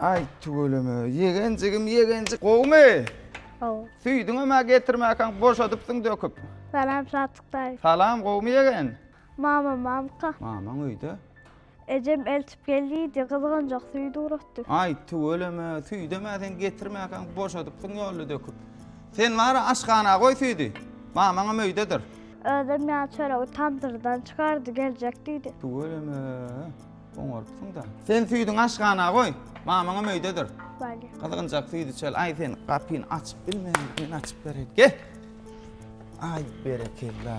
Ay tüweleme. Yegencigim yegencik. Gowmy? Gowy. Süýdüňem ha getirmäkäň boşadypsyň döküp. Salam Satyk daýy. Salam gowmy yegen? Mama mamka. Mamaň öýde. Ejem eltip gelýidi, gyzganjak süýt ugratdy. Aý, tüweleme, süýdem-ä sen getirmäkäň, boşadypsyň ýolda döküp. Sen bar-a, aşhana goý süýdi. Mamaňam öýdedir. Özem ýa çöregi tamdyrdan çykardy, geljek diýdi. Tüweleme, oňarypsyň-da. Sen süýdüňi aşhana goý, mamaňam öýdedir. Bolýar. Gyzganjak süýt içeli. Aý, sen gapyny açyp bilme, men açyp bereýin. Gel! Aý, berekella!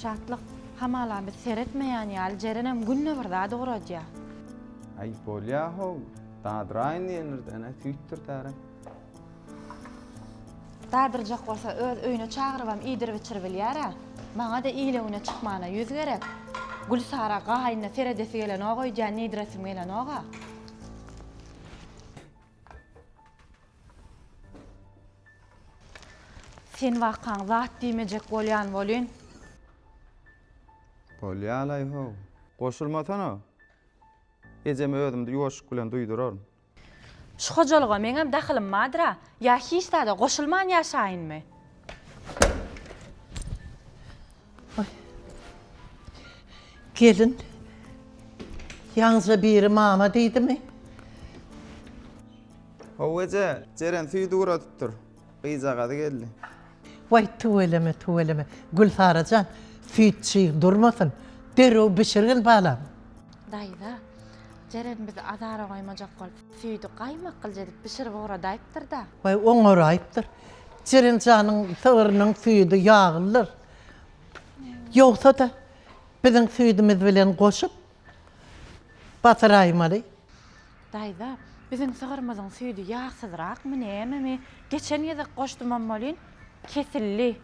Şatlyk, hamala biz seretmeýän ýaly Jerenem günde bir zat ugradýa. Aý bolýa-how, dadyraýyn diýenirden-ä süýtdürtärin. Dadyrjak bolsa öz öýüne çagyrybam iýdirip-içirip bilýär-ä. Maňa-da ile-güne çykmana ýüz gerek. Gülsara gaýynyna seredesi gelenok öýdýän, niýdiresim gelenok-a. Sen wakaň zat diýmejek bolýan welin. Bolýalaý-how. Goşulmasana. Ejeme özümde ýuwaşlyk bilen duýduraryn. Şu hojalyga meňem dahylym bardyr-a. Ýa hiç zada goşulman ýaşaýynmy? Gelin ýaňyja biri mama diýdimi? How eje, Jeren süýdi guradyp dur. Gyzjagazy geldi. Waý, tüweleme, tüweleme. Gülsara jan, süýt çyg durmasyn. Derrew bişirgil, balam. Daýza, Jeren bizi azara goýmajak bolup, Süýdi gaýmaklyja edip bişirip oňradaýypdyr-da. Baý, oňaraýypdyr. Jeren janyň sygyrynyň süýdi ýaglydyr. Ýogsa-da, biziň süýdümiz bilen goşup basyraýmaly. Daýza, biziň sygyrymyzyň süýdi ýagsyzrakmy, nämemi? Geçen gezek goşdumam welin, kesildi.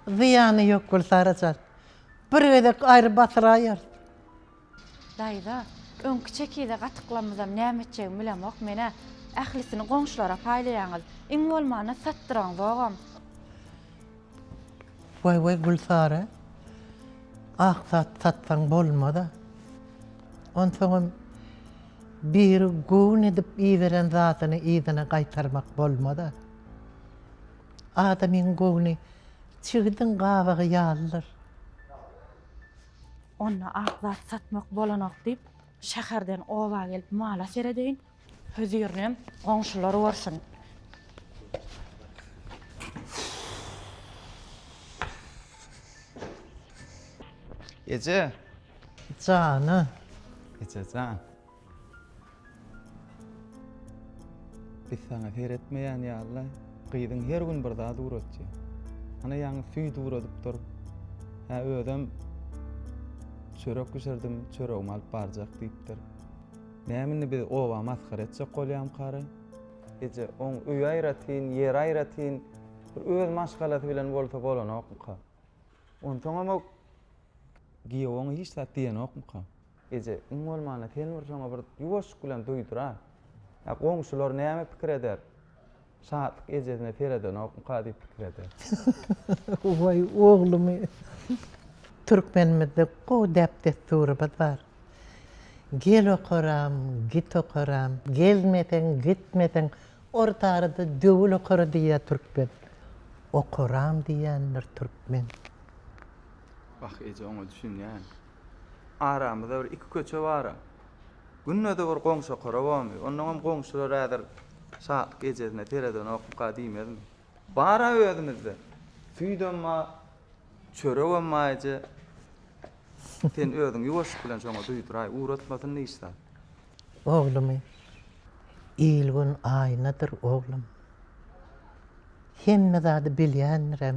Zyýany ýok, Gülsara jan. Bir gezek aýry basyraýarys. Daýza, öňki çekize gatyklamyzam näme etjegimi bilemok men-ä. Ählisini goňşulara paýlaýaňyz. Iň bolmanda satdyraň zogam. Waý-waý, Gülsary, ak zat satsaň bolmaz-a. Onsoňam biri göwün edip iberen zadyny yzyna gaýtarmak bolmaz-a. Adamyň göwni çigidiň gabygy ýalydyr. Onda ak zat satmak bolanok diýip, şäherden oba gelip mala seredeýin. Hözirinem goňşular görsün. Eje. Jana. Ejejan. Biz saňa seretmeýän ýaly-la, gyzyň her gün bir zat ugratýar. Ana ýaňy süýt ugradyp dur. Hä özem çörek bişirdim, çöregimi alyp barjak diýipdir. Näme indi biz oba masgara etjek bolýamkary? Eje, oň öýi aýratyn, ýeri aýratyn, bir öz maşgalasy bilen bolsa bolanokmyka? Onsoňam-a giýew oňa hiç zat diýenokmyka? Eje, iň bolmanda sen bir şoňa bir ýuwaşlyk bilen duýdur-a. Ýa goňşular näme pikir eder? Şatlyk ejesine seredenokmyka diýip pikir eder. Waý, oglumy! Türkmenimizde gowy däp-dessurymyz bar. Gel okaram, git okaram, gelmeseň, gitmeseň, orta arada döwül okara diýýär türkmen. Okaram diýýändir türkmen. Wah, eje, oňa düşünýän. Aramyzda bir iki köçe bar-a. Günde-de bir goňşa korobamy? Onnoňam goňşular häzir Şatlyk ejesine seredenokka diýmezmi? Bar-a özümizde. Süýdem bar, çöregem bar eje. Sen özüň ýuwaşlyk bilen şoňa duýduraý, ugratmasyn hiç zat. Oglumy, Il-gün aýnadyr, oglum. Hemme zady bilýändirem,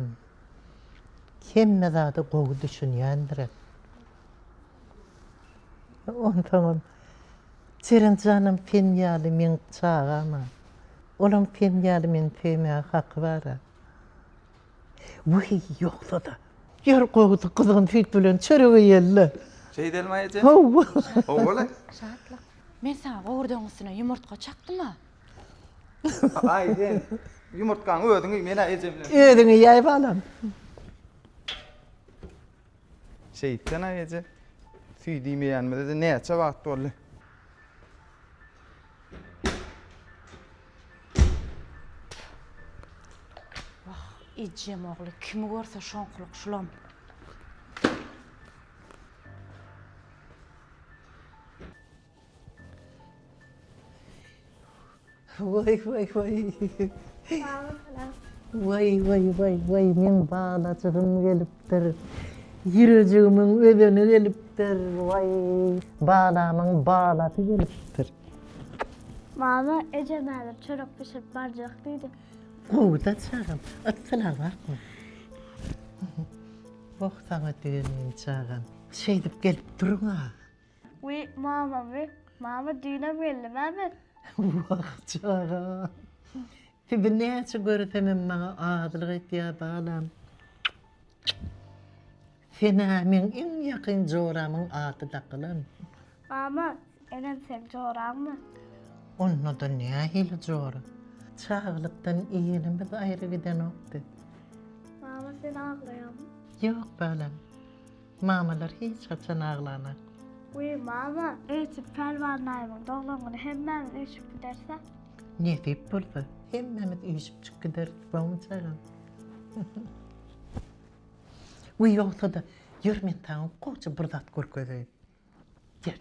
Hemme zada gowy düşünýändirem. Onsoňam Jeren janam sen ýaly meň çagam-a. Olam sen ýaly meni söýmäge haky bar-a. Wiý, ýogsa-da. Ýör gowusy gyzgyn süýt bilen çörek iýeli-le. Şeýdelmi aýajan? Hawa. Hawa-la. Şatlyk. Men saňa gowurdagyň üstüne ýumurtga çakdym-a. Aý sen ýumurtgaň özüň iý men-ä eje bilen. Özüň iýäý balam. Şeýtsen-ä eje. Süýt iýmeýänimize-de näçe wagt boldy. Wah, ejem ogly kimi görse şoňkulyk şulam. Waý waý waý. Waý waý waý waý meň balajygym gelipdir. Ýürejigimin özeni gelipdir. Waý balamyň balasy gelipdir. Mama eje näder çörek bişirip barjak diýdi. Gowuda çagam. At sylag bakma. Wah saňa düýe meň çagam. Şeýdip gelip duruň-a. Wiý, mama, wiý, mama, düýnem geldim-ä men. Wah, çaga! Sizi näçe göresemem maňa azylyk etýär, balam. Sen-ä meň iň ýakyn joramyň ady dakylan. Mama, enem seň joraňmy? Onda-da nähili jora? Çagalykdan igenimiz aýry gidenokdy. Mama, sen aglaýaňmy? Ýok, balam. Mamalar hiç haçan aglamak. Wiý mama, öýtüp Pälwan daýymyň doglan güni hemmämiz üýşüp gidersä. Nesip bolsa, hemmämiz üýşüpjik gideris, bawmy çagam? Wiý ýogsa-da, ýör men saňa goja bir zat görkezeýin. Ýör.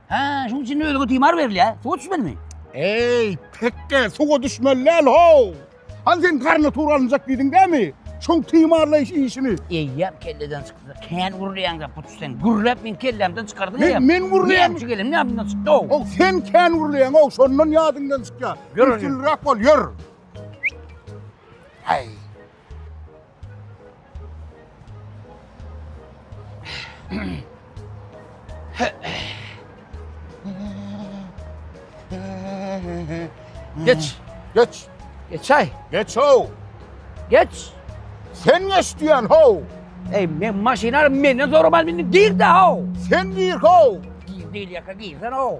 Hä, şuň üçin ölüge timar berilýär. Suwa düşmelimi? Eý, pekge, suwa düşmeli däl, how! Hany sen garny tur alynjak diýdiň dämi? Şoň timarlaýyş işini. Eýýäm kelleden çykdy. Kän gürleýäň-de, puç sen. Gürläp meni kellämden çykardyň eýýäm. Men, men gürleýän. Näme üçin gelenim ýadymdan çykdy, how! How, sen kän gürleýäň, how, şondan ýadyňdan çykýar. Ýör, ýör. Üstünliräk bol, ýör. Häý. Geç. Geç. Geç ay. Geç ho. Geç. Sen geç diyen ho. Ey men maşynar menden zormal menden gir de ho. Sen gir ho. Gir değil yaka girsen ho.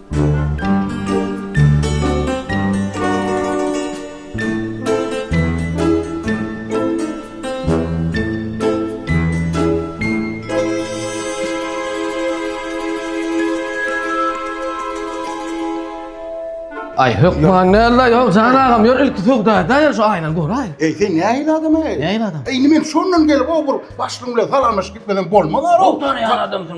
Ay hökman nella yok Can ağam yor ilk sugda da yor şu aynan gör ay. Ey sen ne ayıl adam ey? Ne ayıl adam? Ey men şondan gelip o bir başlığımla salamlaşıp gitmeden bolmaz ara. Doktor ya adamsın.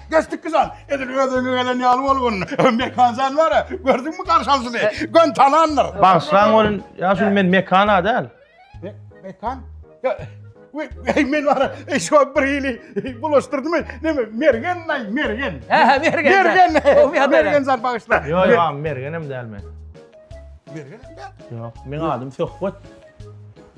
Geçdik bizan. Edil özüňe gelen ýaly bolgun. Mekan sen var ya. Gördün mü karşan sizi? Gön tananlar. Bagşylaň bolun. Ya şu men mekana däl. Me mekan? Ya Ey men var e, şu bir ili bulaştırdı mı? Ne mi? Mergen nay mergen. He he mergen. Mergen. Mergen, mergen zar bağışla. Yo yo am mergenem däl men. Mergen hem däl. Yok men adım Söhbet.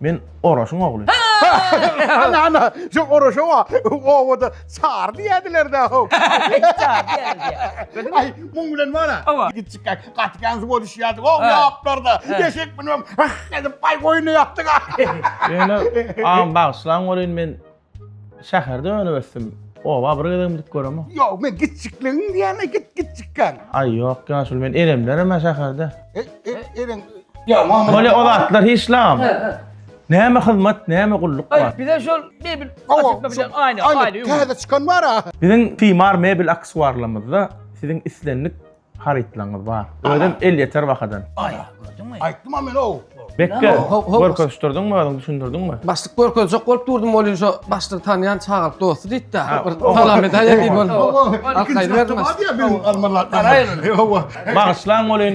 Men Oraşyň ogly. Ana, ana, şu Oraşa wa, owada çar diýädiler-dä, ho. Çar diýädiler. Aý, muň bilen wara, gitjik gäk, gaty gäňsi boluşýardyk, ho, ýaplarda, eşek münüp, ah edip, aý, goýuna ýapdyk, ah. Ýöne, agam, bagyşlaň welin, men. Şäherde önüp ösdüm. Oba bir gezegim gidip göremok. Ýok, men gitjikligin diýäne git gitjikkan. Aý ýok, ýaşuly men eremlerim ha şäherde. E, e, eren. Ýa, mama. Bolýa o zatlar hiç lagam. He, he. Näme hyzmat, näme gulluk bar? Aý, bize şol mebel açykda bilen aýna, aýna. Täze çykan bar-a. Biziň Timar mebel aksuarlarymyzda siziň islendik Harytlaryňyz bar. Özem elýeter bahadan. Aý, gördüňmi? Aýtdym-a men ow. Bekge, Ho- ho- ho- görkezişdirdiňmi özüň, düşündirdiňmi? Başlyk görkezjek bolup durdum bolýa şu başlygy tanýan çagalyk dosty diýdi-de. Ha, Bir o- salam edäýe diýip Ow, oldum. ow, Al, ikinji gaýdyberdim. dakika bar diýä benim almalar. Garaýyň. Ow, ow. Bagyşlaň bolýyn,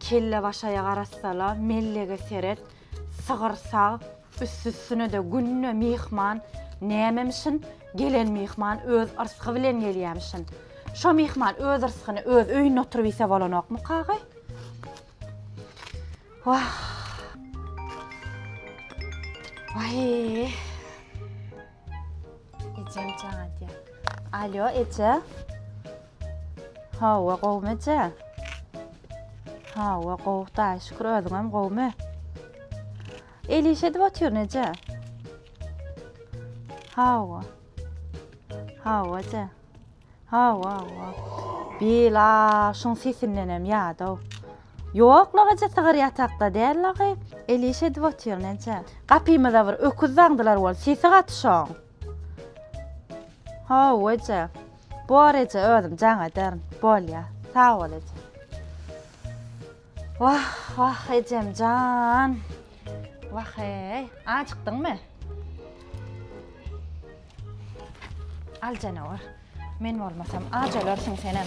Kellebaşaýa garasala, mellege seret, sygyr sag, üstüsüne-de günde myhman, nämemişin, gelen myhman öz yrsgy bilen gelýämişin. Şo myhman öz yrsgyny öz öýünde oturyp iýse bolanokmykagy? Wah! Waýý! Ejem jaň edýär. Alýo, eje. Hawa, gowumy eje? Hawa, gowy, daýy şükür, özüňem gowumy? El iş edip otyryn, eje. Hawa. Hawa, eje. Hawa, hawa. Bil, a, şuň sesindenem ýadaw. Ýok, lagaja sygyr ýatakda däl lagy. El iş edip otyr, näçe. Gapymyza bir öküz daňdylar bol, sesi gaty şoň. Hawa, eje. Bor, eje, özüm jaň ederin. Bolýa. Sag bol, eje. Wah wah ejemjan. Wah eý, ajykdyňmy? Al janawar. Men bolmasam aç ölersiň senem.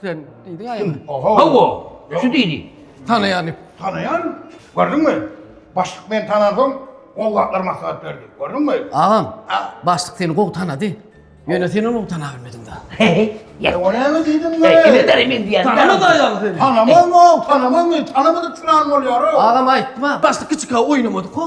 Sen diýdiň aýam. Hawa, şu diýdi. Tanaýan diýip. Tanaýan, gördüňmi? Başlyk meni tanansoň, gowy zatlar maslahat berdi. Gördüňmi? Agam, başlyk seni gowy tanady. Ýöne sen ony tana bilmediň-dä. Ýa, o näme diýdiň be? Kimin däri men diýýän. Tanamady aýal seni. Tanamazmy, tanamazmy? Tanamadyk çyran bolýar-a. Agam aýtma, başlyk kiçika oýnamadyk-a.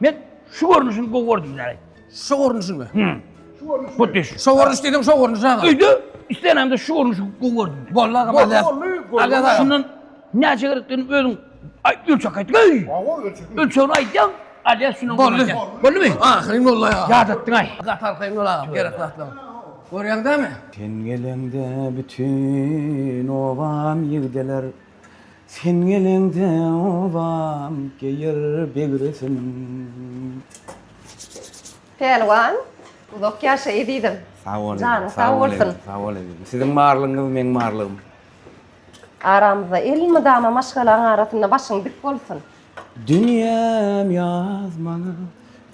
Men şu görnüşini gowy gördüm yani. Şu görnüşi mi? Hı. Şu görnüş. Bu düş. Şu görnüş dedim, şu görnüş aga. Öýde islenemde şu görnüşi gowy gördüm. Bolla aga Bolly, mazar. bolly, bolly. Aga aga. Şundan näçe gerekdigini özüň ay, ölçek aýt. Öý. Awa ölçedim. Ölçegini aýtýaň. Alýa şundan Bolly. görýän. Bolly mi? Ahyryň bolly aga. Ýadatdyň aý. Gatar kyn ol aga, gerek zatlar. Görýäň dämi? Sen geleňde bütün obam ýigdeler Sen geleňde obam geýer beg resim. Pälwan, uzak ýaşa ezizim. Sag bol, janyň sag bolsun. Sag bol, ezizim. Siziň barlygyňyz meň barlygym. Aramyzda elmydama maşgalaň arasynda başyň dik bolsun. Dünýäm ýaz maňa,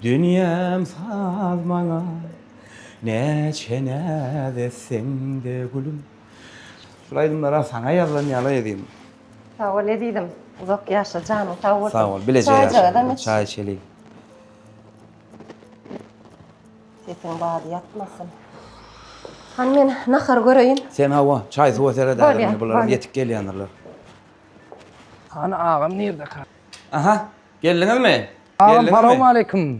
dünýäm saz maňa, Näçe näz etseň-de gülüm. Şul aýdymlara saňa ýazlan ýaly edýin. Sag bol ezizim. Uzak ýaşa janyň sag bolsun. Sag bol. Bileje ýaşa. Çaý içeliň. Sesiň bady ýatmasyn. Hany men nahar göreýin. Sen hawa, çaý suwa seret ädim. Bular ýetik gelýändirler. Hany agam nirde ka? Aha, geldiňizmi? Agam salowmaleýkim.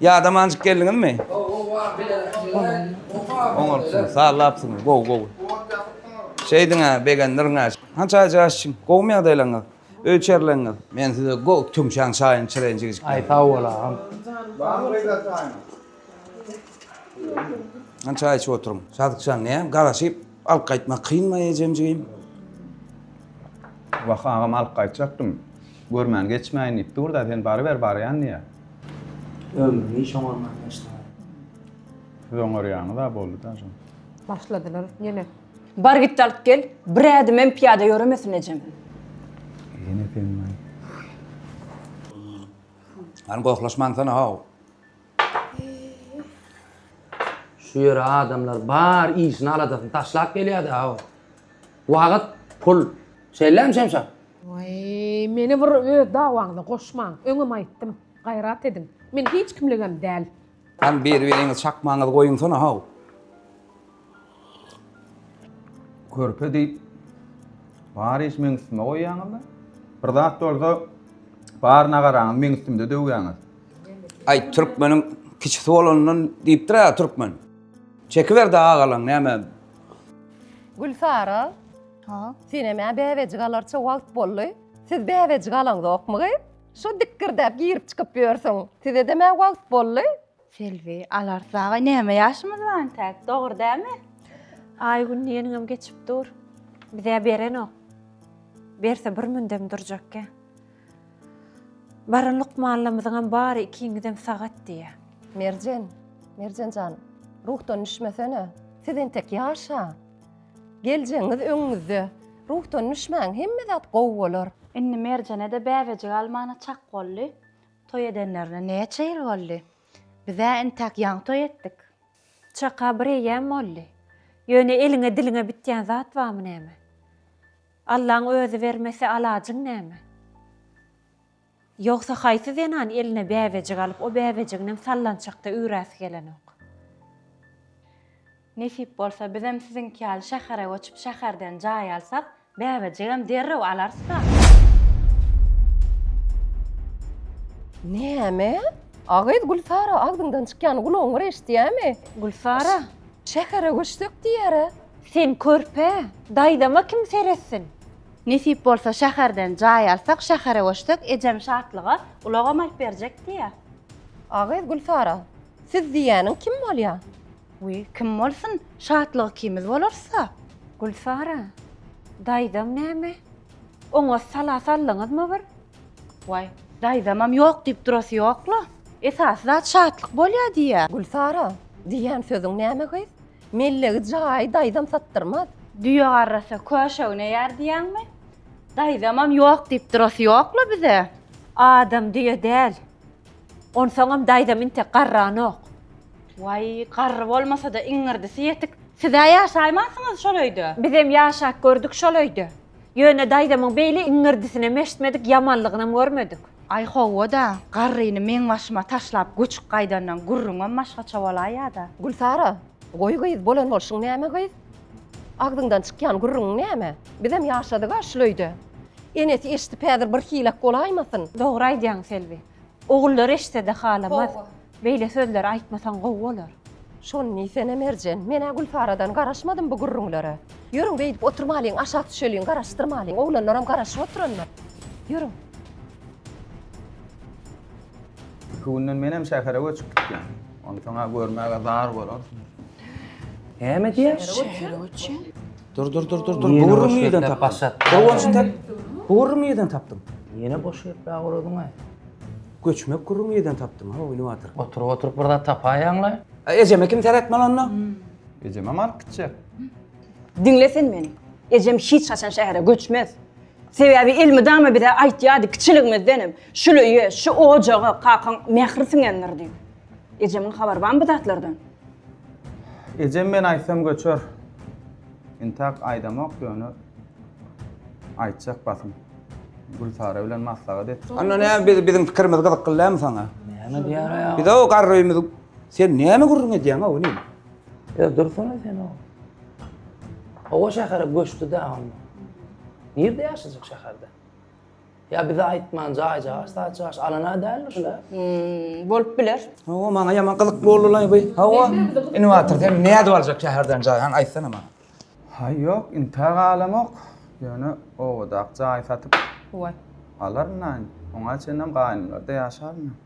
Ýada manjyk geldiňizmi? Oňartdyňyz, sallapsyňyz, gowy, gowy. Şeýdiň-ä, begendirin-ä. Hança aýja aşçym, gowumy ýagdaýlaryňyz, öý içerileňňiz? Men size gowy tüňşäň çaýyny çylaýyn jigijikler. Aý, sag bol, agam. Hança aý içip oturyň. Sadykjan, näm, garaşyp alyp gaýtmak kynmy, ejem jigim? Wah, agam, alyp gaýtjakdym. Görmän geçmäýin diýip dur-da, sen baryber barýan diýýä. Ömrüni hiç oňarman geçdiňiz. Siz oňarýaňyz-a boldy-da jan. Başladylar ýene. Bar git-de alyp gel, bir ädim hem pyýada ýöremesin ejem. Ýene sen-laý. Hany gohlaşmansana-how. Şu ýere adamlar bar işini aladasyny taşlap gelýärdi aw. Wagyt, pul. Şeýlem Şemşa? Waý, meni bir öz dawaňyza goşmaň. Öňem aýtdym. Gaýrat ediň. Men hiç kimligem däl. Hany beri-beriňiz çakmaňyzy goýuňsana haw. Körpe diýip bar iş meň üstüme goýýaňyzda. Bir zat bolsa bar nagaraňyz meň üstümde döwýäňiz. Aý türkmeniň kiçisi bolandan diýipdir-ä türkmen. Çekiber-de agalaň näme. Gülsara. Ha. Senem ä bäbejik alarça wagt boldy. Siz bäbejik alaňzokmy gyz? Şo dikgirdäp girip-çykyp ýörsüň. Size-dem ä wagt boldy. Selbi, Alars dagay näme ýaşymyz bar entäk, dogry dälmi? Aý gün diýeniňem geçip dur. Bizä berenok. Berse bir mündem durjakkä. Baran lukmanlamyzyňam bary ikiňizem sagat diýýä. Merjen, Merjen jan, ruhdan düşmesene. Siz entek ýaşa. Geljegiňiz öňüňizde. Ruhdan düşmäň, hemme zat gowy bolar. Indi Merjene-de bäbejik almana çak boldy. Toý edenlerine näçe ýyl boldy? Biz-ä entäk ýaňy toý etdik. Çaka bir eýýäm boldy. Ýöne eliňe-diliňe bitýän zat barmy näme? Allaň özi bermese alajyň näme? Ýogsa haýsy zenan eline bäbejik alyp o bäbejiginem sallançakda üýräsi gelenok? Nesip bolsa bizem siziňki ýaly şähere göçüp şäherden jaý alsak bäbejigem derrew alarysda. Näme? A gyz Gülsara agzyňdan çykýany gulagyň bir eşitýämi? Gülsara. Şähere göçsek diýýärä. Sen körpe, daýzama kim seretsin? Nesip bolsa şäherden jaý alsak şähere göçsek ejem Şatlyga ulagam alyp berjek diýýär. A gyz Gülsara. Siz diýýäniň kim bolýar? Wiý, kim bolsun, şatlygy ikimiz bolarys-a. Gülsara, daýzaň näme? Oňa sala saldyňyzmy bir? Waý, daýzamam ýok diýip durasy ýok-la. Esasy zat şatlyk bolýa diýýä. Gülsara, diýýän sözüň näme gyz? Mellegi jaýy daýzam satdyrmaz. Düýe garrasa köşe üneýär diýýäňmi? Daýzamam ýok diýip durasy ýok-la bize. Adam düýe däl. Onsoňam daýzam intek garranok. Waý, garry bolmasa-da iňňirdisi ýetik. Siz-ä ýaşaýmansyňyz şol öýde? Bizem ýaşap gördük şol öýde. Ýöne daýzamyň beýle iňňirdisinem eşitmedik, ýamanlygynam görmedik. Aý, hawa-da, garryny meň başyma taşlap göçüp gaýdandan gürrüňem başgaça bolaýýa-da. Gülsara, goý gyz, bolan bolşuň näme gyz? Agzyňdan çykýan gürrüň näme? Bizem ýaşadyk-a şul öýde. Enesi eşidip häzir bir hiläk bolaýmasyn. Dogry aýdýaň Selbi. Ogullary eşitsede halamaz. Beýle sözleri aýtmasaň gowy bolar. Şony diýsene Merjen, men-ä Gülsaradan garaşmadym bu gürrüňlere. Ýörüň beýdip oturmalyň, aşak düşeliň, garaşdyrmalyň. Oglanlaram garaşyp oturandyr. Ýörüň. Iki günden menem şähere göçüp gitýän. Onsoň-a görmäge zar bolarsyňyz. Näme diýýär? Şähere göçýän. Dur dur dur dur dur. Ýene Bugurymy boş ýerden ýerden tapdym. başlat. Gurgunçy tap. Bugurymy ýerden tapdym. Ýene boş ýerpä guradyň-aý. Göçmek gurumy ýerden tapdym ha oýnup atyryn. Oturyp oturyp bir zat tapaýaňlaý. A ejeme kim seretmeli onda? Ejemem alyp gitjek. Diňle sen meni. Ejem hiç haçan şähere göçmez. Sebäbi elmydama bize aýtýardy kiçiligimizdenem, şuly ýe, şu ojaga kakaň mähri siňendir diýip. Ejemiň habary barmy bu zatlardan? Ejem men aýtsam göçer. Intak aýdamok ýöne aýtjak basym. Gülsara bilen maslahat et. Anna ne biz biziň pikirimiz gyzykly dämi saňa? Näme diýýär aýa? Biz o garrymy sen näme gürrüň edýäň o ne? Ýa dursana sen o. Owa şähere göçdi-de onda. Nirde ýaşajak şäherde? Ýa bize aýtman jaý jaş saç jaş alana däldir şula. Hmm, bolup biler. Hawa maňa ýaman gyzykly boldy lan bu. Hawa. Innowator sen ne edip aljak şäherden jaý? Haň aýtsana maňa. Haý ýok, intä galamok. Ýöne owadak jaý satyp Waý. alaryn aň. Oňa çenlem gaýnymlarda ýaşaryn.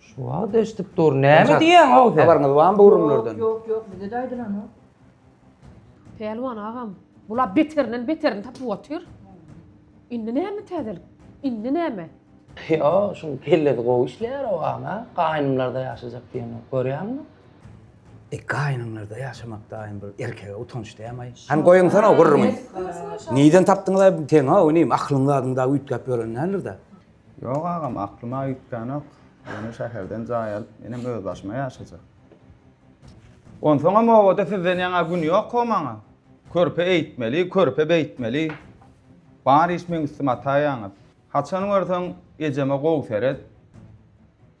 Şu wagt eşidip dur. Näme diýýäň ow sen? Habaryňyz barmy bu gürrüňlerden? Ýok, ýok, bize-de aýdylanok. Pälwan agam, bula beterinden beterini tapyp otyr. Indi näme täzelik? Indi näme? Ýo, şuň kellesi gowy işleýär ow agam, hä? Gaýnymlarda ýaşajak diýenok, görýäňmi? E, gaýnymlarda ýaşamakdaýam bir erkege utanç däm-aý. Hany goýuňsana o gürrüňi. Nirden tapdyňyz-aý bu teňi-ow inim? Aklyň zadyň dagy üýtgäp ýören däldir-dä? Ýok agam, aklyma üýtgänok. Ýöne şäherden jaý alyp, menem özbaşyma ýaşajak. Onsoňam obada sizden ýaňa gün ýok-ow maňa. Körpe eýtmeli, körpe beýtmeli. Bar iş meň üstüme ataýaňyz. Haçan görseň, ejeme gowy seret.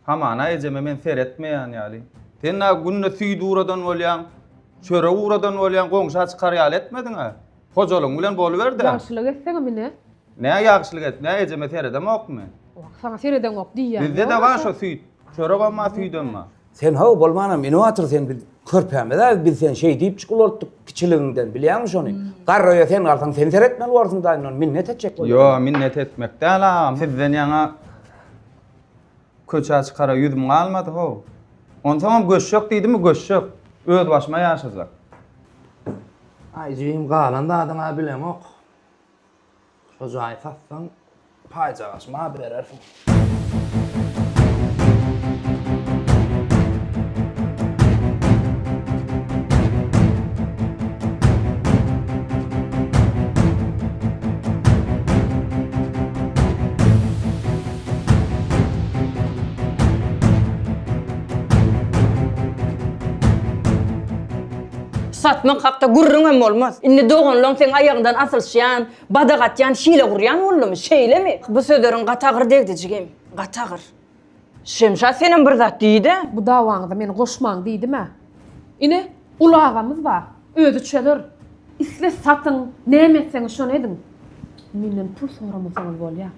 Hamana ejeme men seretmeýän ýaly. Sen-ä günde süýt uradan bolýaň, çörek uradan bolýaň, goňşa çykar ýaly etmediň-ä. Hojalygyň bilen boluber-de. Ýagşylyk etseňem ine. Nä ýagşylyk etdim? Hä, ejeme seredemokmy men? Wah, saňa seredeňok diýýän. Bizde de bar şo süýt. Çöregem bar, süýdem bar. Sen haw, bolmanam ine otur sen, biz körpämiz-ä, biz seni şeýdipjik ulaltdyk kiçiligiňden, bilýäňmi şony? Garraýa sen galsaň, sen seretmeli borsuň daýymdan, minnet etjek bolýar. Ýo, minnet etmek däl agam, sizden ýaňa Köçä çykara ýüzüm galmady, how. Onsoňam göçjek diýdimi, göçjek. Özbaşyma ýaşajak. Aý, jigim, galan zadyň-a bileňok. Şo jaýy satsaň, paýjagaşyma-a berersiň. Satmak hakda gürrüňem bolmaz. Indi doganlaň seň aýagyňdan asylyşýan, badak atýan, hile gurýan boldumy? Şeýlemi? Bu sözleriň gaty agyr degdi, jigim. Gaty agyr. Şemşat senem bir zat diý-de. Bu dawaňyza meni goşmaň diýdim-ä. Ine, uly agamyz bar. Özi çözer. Isle satyň, näme etseňiz şony ediň. Menden pul soramasaňyz bolýar.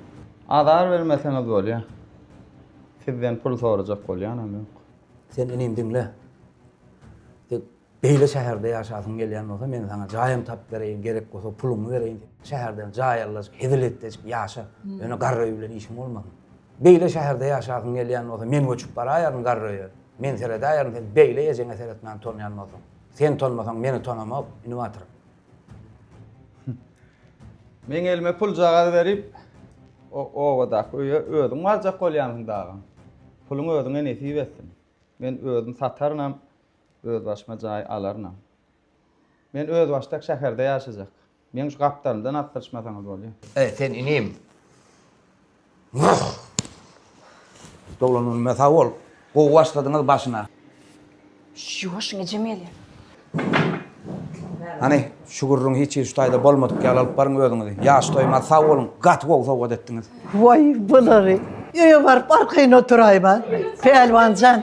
Azar bermeseňiz bolýa. Sizden pul sorajak bolýanam ýok. Sen inim diňle. Sen beýle şäherde ýaşasyň gelýän bolsa men saňa jaýam tapyp bereýin, gerek bolsa puluňy bereýin. Şäherden jaý allajyk, hezil etdejik ýaşa. Ýöne garry öý bilen işiň bolmasyn. Beýle şäherde ýaşasyň gelýän bolsa men göçüp baraýaryn garry öýe. Men seredäýerin sen beýle ejeňe seretmän tonýan bolsaň. Sen tonmasaň meni tonamok, inim atyrym. Meň elime puljagaz berip, o obadaky öýe özüň barjak bolýansyň dagam. Puluň özüňe nesip etsin. Men özüm satarynam, özbaşyma jaý alarynam. Men özbaşdak şäherde ýaşajak. Meň şu gapdalymdan asdyryşmasaňyz bolýar. Sen inim. Doglan günüme sag bol. Gowy başladyňyz başyna. Ýoşuň ejem gelýä. Hany, şu gürrüň hiç hili şu taýda bolmadyk ýaly alyp baryň özüňizi. Ýaş toýmaz sag boluň. Gaty gowy sowgat etdiňiz. Waý, bulary. Öýe baryp arkaýyn oturaýma. Pälwan jan.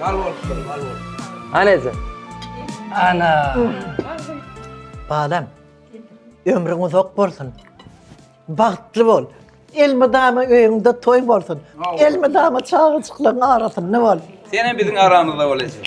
Bal bolsun, bal bolsun. Anezi. Ana. Balam. Ömrüň uzak bolsun. Bagtly bol. Elmydama öýüňde toý bolsun. Elmydama çagajyklaryň arasynda bol. Sen hem biziň aramyzda bolaýjak.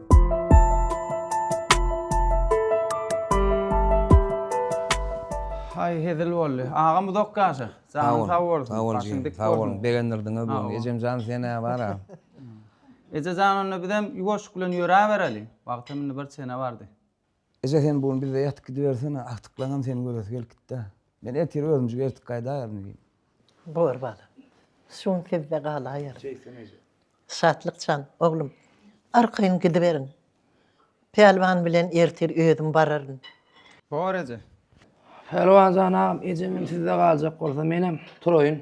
Haý hezil boldy. Agam uzak ýaşa. Janyň sag bolsun. Sag bol Başyň dik Sag bolsun. Begendirdiňe bu. Ejem jan sen ne bar a? Eje jan onda bizem ýuwaşyk bilen ýöräbereli. Wagtam indi bir çene bardy. Eje sen bu gün bizde ýatyp gidibersene, agtyklaňam seni göresi gelip gitdi-ä. Men ertir özümjik ertip gaýdaýaryn diýdim. Bor balam. Şu gün sizde galaýaryn. Şeýtsin eje. Şatlyk jan, oglum, arkaýyn gidiberiň. Pälwan bilen ertir özüm bararyn. Bor eje. Pälwan jan agam, ejemem sizde galjak bolsa, menem turaýyn.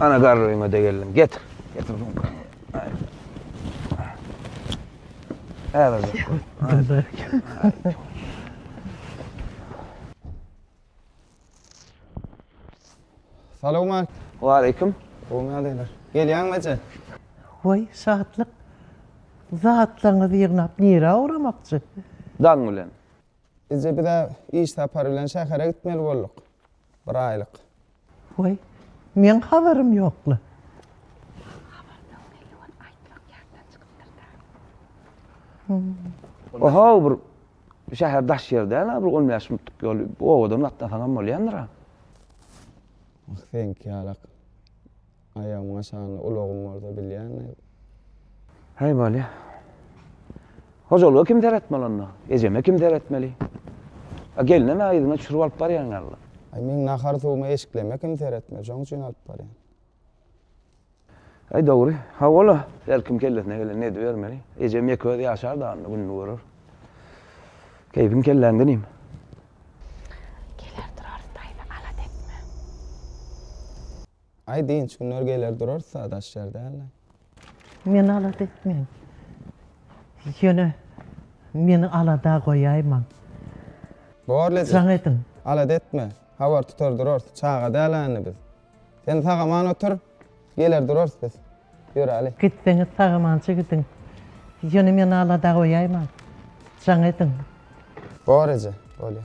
Ana garryma da geldim. Getir. Getir. Hadi. Hadi. Salowma. Waleýkim. Gowy nädeler. Gelýäňmi eje? Waý, şatlyk. Zatlaryňyzy ýygnap nirä ugramakçy? Daň bilen. Eje, biz-ä iş sapary bilen şähere gitmeli bolduk. Bir aýlyk. Waý, meň habarym ýokla. Ohow bir şäher daş ýer däl-ä bir on bäş minutlyk ýol. Owadan gatnasaňam bolýandyr-a. Seňki ýalak. Aýagymyň aşagynda ulagym bolsa bilýäňmi? Häý, bolýa. Hojalyga kim seretmeli onda? Ejeme kim seretmeli? A gelinem ä yzyňa çürüp alyp barýaň ýaly. Aý, meň nahar-suwumy, eşikleme kim seretmeli? Şoň üçin alyp barýan. Aý, dogry. Hawa-la, her kim kellesine gelenini edibermeli. Ejem ýeke özi ýaşar dagynda gününi görer. Keýpiň kelläňde inim. Geler durarys daýza, alat etme. Aý dynç günler geler durarys-a daş ýer däl-de. Meni alada etmäň. Ýöne meni alada goýaýmaň. Bor Ledi. Jaň ediň. Alada etme. Habar tutar durarys. Çaga däl-ä indi biz. Sen sag-aman otur, geler durarys biz. Ýöräli. Gitseňiz sag-amança gidiň. Ýöne meni alada goýaýmaň. Jaň ediň. Bor eje, bolýa.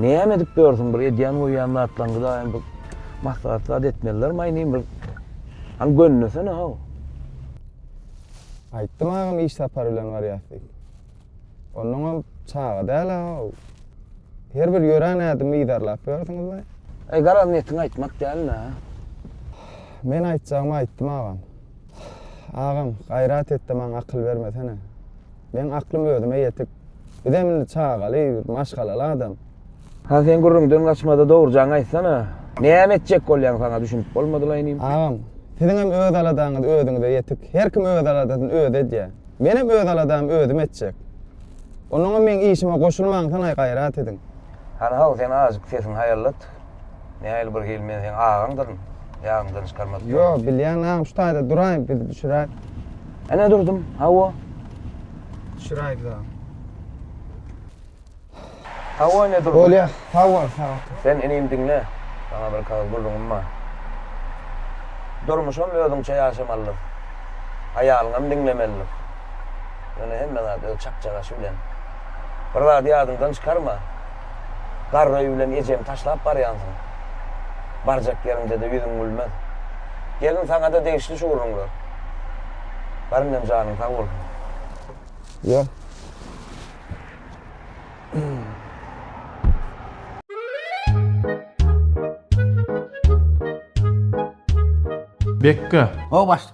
Näme edip ýörsüň bir edýän goýýan zatlaňyzaýam bir maslahat zat etmeliler maýnyn bir hany gönnesene how. Aýtdym agam iş sapary bilen barýas diýip. Onnoňam çaga däl how. Her bir ýörän ädimi yzarlap ýörsiňizle. Aý garaz netiň aýtmak däl nä. Men aýtjagymy aýtdym agam. Agam, gaýrat et-de maňa akyl bermesene. Meň aklym özüme ýetik. Bizem indi çagaly, maşgalaly adam. Hany sen gürrüňden gaçma-da dogrujaňy aýtsana. Näme etjek bolýaň saňa düşünip bolmadylaý inim. Agam, siziňem öz aladaňyz özüňize ýetik. Her kim öz aladasyny özi edýär. Menem öz aladamy özüm etjek. Onnoňam meň işime goşulmaňsanaý gaýrat ediň. Hany haw sen azjyk sesiňi haýallat. Nähili bir hil men seň agaňdyryn. Ýadyňdan çykarmadyk. Ýo, bilýän agam şu taýda duraý biz düşüräýik. Ene durdum. Hawa. Düşüräýik agam. Hawa ene durdum. Bolýa. Sag bol, sag ol. Sen inim diňle. Saňa bir kagyz gürrüňim bar. Durmuşam özüňçe ýaşamalydyr. Aýalyňam diňlemelidir. Ýöne hemme zat öz çakjagaşy bilen. Bir zady ýadyňdan çykarma. Garry bilen ejeňi taşlap barýansyň. Barjak ýeriňde-de ýüzüň gülmez. Gelin saňa-da degişli şu gürrüňler. Bar indem janyň sag bolsun. Ýör. Bekga. Ho baş.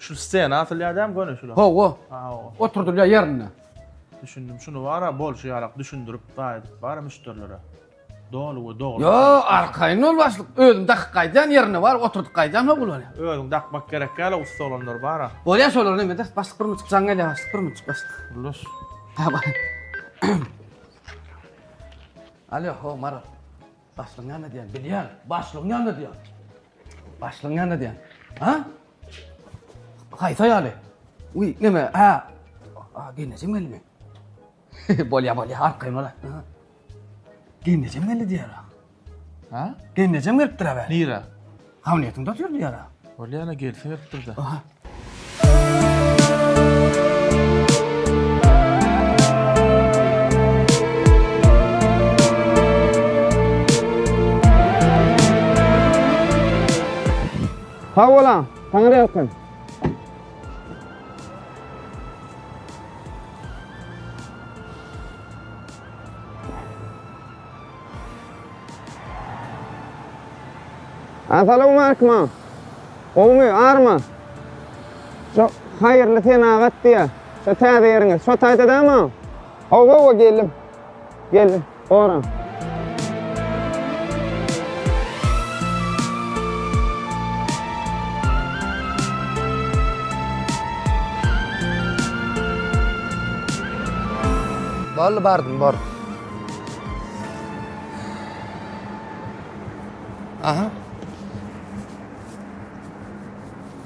Şu stena atylýar däm göni şular. Hawa. Hawa. Oturdylýar ýerinde. Düşündim. Şunu bara bolşy ýalak düşündirip gaýdyp bara müşderilere. Doly we dogry. Yo, arkaýyn ol başlyk. Özüm dakyp gaýdýan ýerinde bar, oturdyp gaýdýan hok bolýar. Özüň dakmak gerek ýaly ussa olanlar bara. Bolýar şolar näme de, başlyk bir münçik jaň gelýär, başlyk bir münçik başlyk. Ullaş. Hawa. Alýo, ho, Maral. Başlygyň ýanynda diýýän, bilýän. Başlygyň ýanynda diýýän. Başlygyň ýanynda diýýän. Ha? Haýsy aýaly? Uý, neme? Ha. A, gelnejem gelmi? bolýa, bolýa, arkaýyn bol. Gelnejem geldi diýýär. Ha? Gelnejem gelipdir a be. Nire? Hamletiň dost ýurdy ýara. Bolýa ana gelsin gelip durda. Sag bolan, taňry ýalkasyn. Asalam Arkma. Gowmy, arma? Şu haýyrly senagat diýä. Şu täze ýeriňiz. Şu taýda dämi? Hawa, hawa geldim. Geldim. Ora. Boldy bardym, bor. Aha.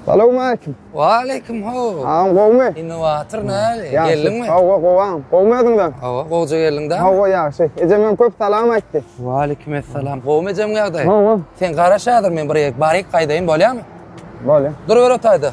Salam aleyküm. Wa aleyküm ho. Ağam gowmy? Innovator näli? Geldiňmi? Hawa gowam. Gowmy özüňden? Hawa gowja geldiň da. Hawa ýagşy. Ejem hem köp salam aýtdy. Wa aleyküm esselam. Gowmy ejem ýagdaý? Hawa. Sen garaş häzir men bir ýerik baryk gaýdaýyn bolýarmy? Bolýar. Dur bir otayda.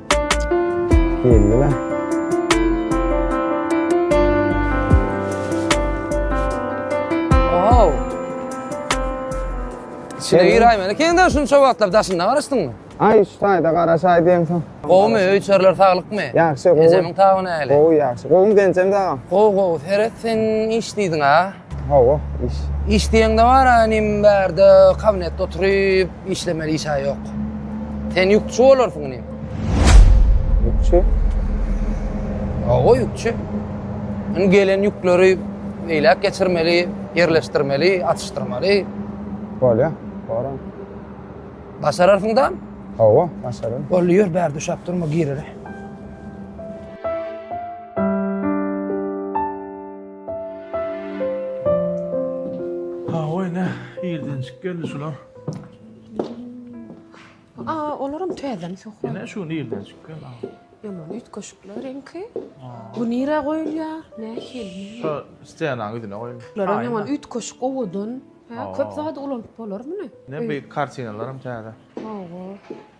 Geldiler. Şeýle ýöräýmäne. Kende şuny çowatlap daşynda garaşdyňmy? Ay şu taýda garaşaý diýemsoň. Gowumy öýçerler sagylykmy? Ýagşy gowy. Ejemiň tabyny äli. Gowy ýagşy. Gowumy genjem daga? Gowy gowy. Heret sen iş diýdiň ha? Hawa, iş. Iş diýeňde bar-a inim bärde kabinetde oturyp işlemeli iş-ä ýok. Sen ýükçi bolarsyň inim. Ýükçi? Hawa, ýükçi. Indi gelen ýükleri beýläk geçirmeli, ýerleşdirmeli, atyşdyrmaly. Bolýar, baran. Başararsyň dam? Hawa, başararyn. Boldy, ýör, bärde uşap durma, gireli. Hawa ene, irdenjik geldi şular. Aa, olaram täzemi sokuň. Ene şu irdenjik geldi. Ýaman üýtgeşikler reňki. Bu nirä goýulýar? Nähili? Şu stena ýüzüne goýun. Lara ýaman üýtgeşik owadan. Hä, köp zady ulanyp bolar muny. Ne bir kartinalaram täze. Hawa.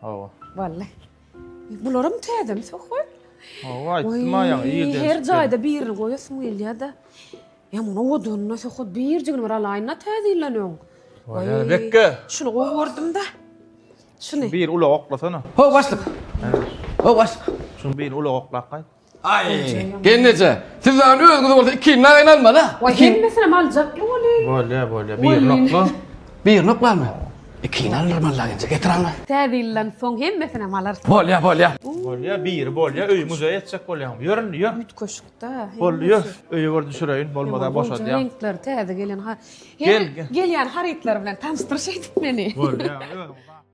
Hawa. Wallay. Bularam täzemi söhbet? Hawa, aýtdym aýaň ýerden. Her jaýda birini goýasym gelýär-de. Ýa muny owadynyna söhbet birjigini bir alaýyn-da täzelen öň. Wallay, bekge. Şuny gowy gördüm-de. Şuny. Bir ulag oklasana. Ho, başlyk. Ho, başlyk. Şuny bir ulag oklap gaýt. Ay, gelneje. Siz lan özünüz olsa iki narayn alma da. Oy hemmesini mi aljak mı olin? Bolya bolya bir Bolin. nokla. Bir nok lan mı? İki narayn alma lan gence getir anla. Täze ýyldan soň hemmesini mi alarsyň? Bolya bolya. Bolya bir bolya öy muzeýe etjek bolýan. Yörün yör. Üt köşkde. Bolly yör. Öýe bir düşüreýin bolmada boşad ya. Renkler täze gelen ha. Gel, Hem gel. gelýän harytlar bilen tanyşdyryş edip meni. Bolya.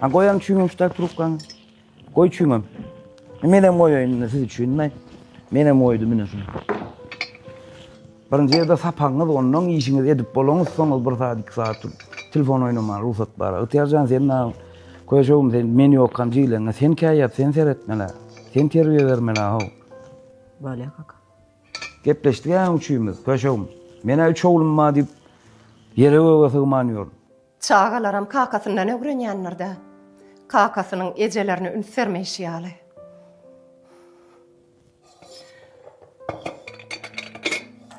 Ha goýaň çüňem şu trubkaňy. Goý çüňem. E, men hem goýaýyn indi siz üçin men. Men hem goýdum indi şunu. Birinji ýerde sapagyňyz, ondan işiňizi edip bolaňyz, soňuz bir saat, iki saat turup telefon oýnamaga rugsat bar. Ygtyýarjan sen nagyn köşegim sen men ýokam jiýleňe sen käýýäp sen seretmele. Sen terbiýe bermeli ha. Bolýa kaka. Gepleşdik äň üçimiz köşegim. Menä üç oglum bar diýip ýere göge sygman ýör. Çagalaram kakasyndan ögrenýändir-dä. Kakasynyň ejelerine üns bermeýşi ýaly.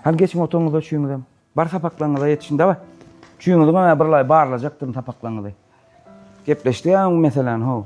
Hany geçiň otagyňyza üçiňizem. Bar sapaklaryňyza ýetişiň daway. Üçiňizem bir laý barlajakdyryn sapaklaryňyzy. Gepleşdik-ä öň meseläni, how.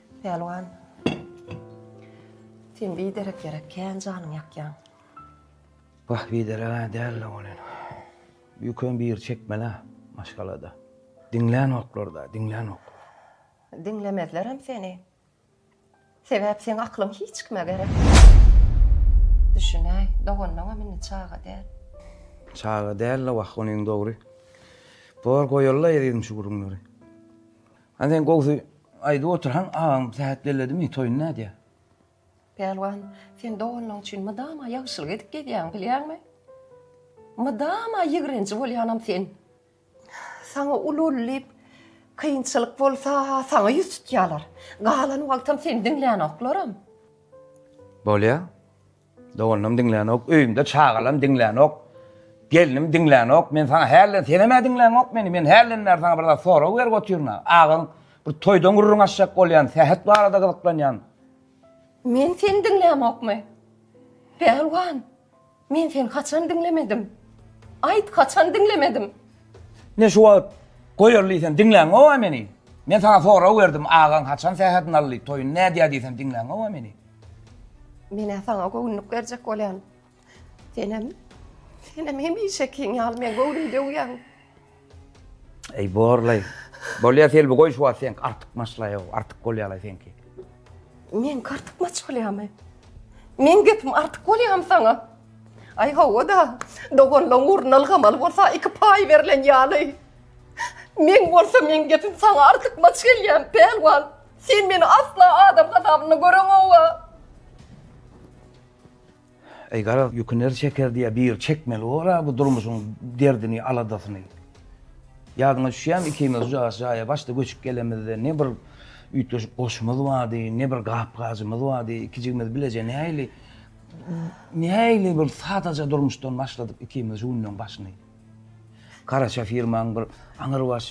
Pälwan Sen biderek ýere kän janyň ýakýaň. Wah bidereg-ä däl-le welin. Ýüküň biri çekmel-ä maşgalada. Diňlänoklar-da, diňlänoklar. Diňlemezlerem seni. Sebäp seň aklyň hiç kime gerek däl. Düşünäý, doganlaňam indi çaga däl. Çaga däl-le wah, onyň dogry. Bor goýaly-la ezizim şu gürrüňleri. Hany sen gowsy aýdyp oturhaň agaň sähet belledimi toýuny nädýä. Pälwan sen doganlaň üçin mydama ýagşylyk edip gezýäň bilýäňmi? Mydama ýigrenji bolýanam sen. Saňa ululy diýip kynçylyk bolsa saňa ýüz tutýalar. Galan wagtam seni diňlänoklarm. Bolýa. Doganym diňlänok, öýümde çagalam diňlänok, gelnim diňlänok, men saňa hälden, senem-ä diňlänok meni, men hälden bäri saňa bir zat sorag berip otyryn-a, agaň bir toýdan gürrüň açjak bolýan, sähet barada gyzyklanýan. Men seni diňlämokmy? Pälwan, men seni haçan diňlemedim? Aýt, haçan diňlemedim? Ne şu wagt goýarly diýsem, diňlänok-a meni. Men saňa sorag berdim, agaň haçan sähedini aldy, toýuny nädýär diýsem, diňlänok-a meni. Men-ä saňa göwünlik berjek bolýan. Senem, senem hemişekiň ýaly meň göwnümi döwýäň. Eý, borlaý. Bolýa, Selbi, goý şu wagt seňki artykmaçlaýow, artyk bolýa-laý seňki. Meňki artykmaç bolýamy? Meň gepim artyk bolýamy saňa? Aý, hawa-da, doganlaň ugruna ylgamaly bolsa iki paý berlen ýaly. Meň bolsa meň gepim saňa artykmaç gelýämi, pälwan? Sen meni asla adam hasabynda göreňoga. Eý garaz ýükü ner çeker diýýä biri çekmeli bor-a bu durmuşyň derdini aladasyny. Ýadyňa düşýämi ikimiz ucagas jaýa başda göçüp gelemizde ne bir üýtgeşik goşumyz bardy ne bir gap-gajymyz bardy iki jigimiz bileje nähili nähili bir sadaja durmuşdan başladyk ikimiz şu günleň başyny. Garaşa firmaň bir aňyrbaş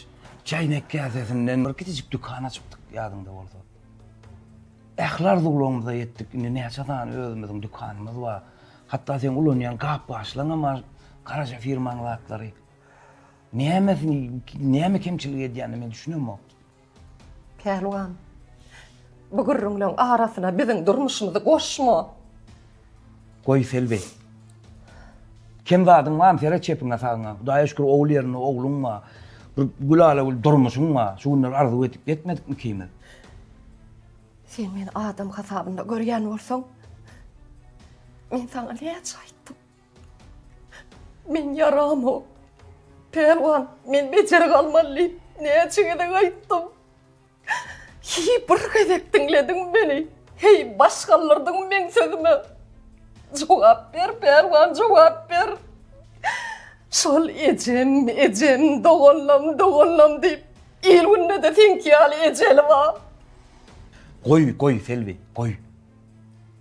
çaýnak käsesinden bir kiçijik dükan açypdyk, ýadyňda bolsa. Ähli arzuwlarymyza ýetdik, indi näçe sany özümiziň dükanymyz bar. Hatda seň ulanýan gap-gaçlaryňam bar, garaşa firmaň zatlary. Nämesi, näme kemçilik edýänini men düşünemok. Pälwan, bu gürrüňleň arasyna biziň durmuşymyzy goşma! Goý, Selbi. Kem zadyň barmy? Seret çepiňe-sagyňa. Hudaýa şükür, ogul ýerinde ogluň bar. Bir gülala-gül durmuşyň bar. Şu günler arzuw edip ýetmedikmi ikimiz? Sen meni adam hasabynda görýän bolsaň, men saňa näçe aýtdym? Men ýaramok. Pälwan, men bejer galmaly diýip, näçe gezek aýtdym. Heý, bir gezek diňlediňmi meni? Heý, baş galdyrdyňmy meň sözüme? Jogap ber, Pälwan, jogap ber! Şol ejem, ejem, doganlam, doganlam diýip, il-günde-de seňki ýaly ejeli bar. Goý, goý, Selbi, goý.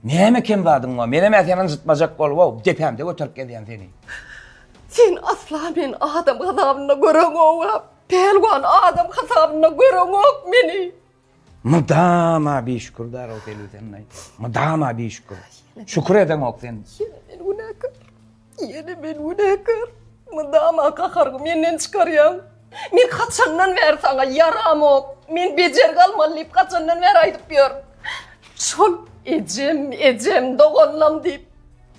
Näme kem zadyň bar? Menem-ä seni ynjytmajak bolup-ow, depämde göterip gezýän seni. Sen asla meni adam hasabynda göreňok-a, pälwan, adam hasabynda göreňok meni. Mydama bişükür zar-ow Selbi sen-aý, mydama bişükür. Şükür edeňok sen. Ýene men günäkär. Ýene men günäkär. Mydama gaharyňy menden çykarýaň. Men haçandan bäri saňa ýaramok, men bejergi almaly diýip haçandan bäri aýdyp ýörün. Şol ejem, ejem, doganlam diýip,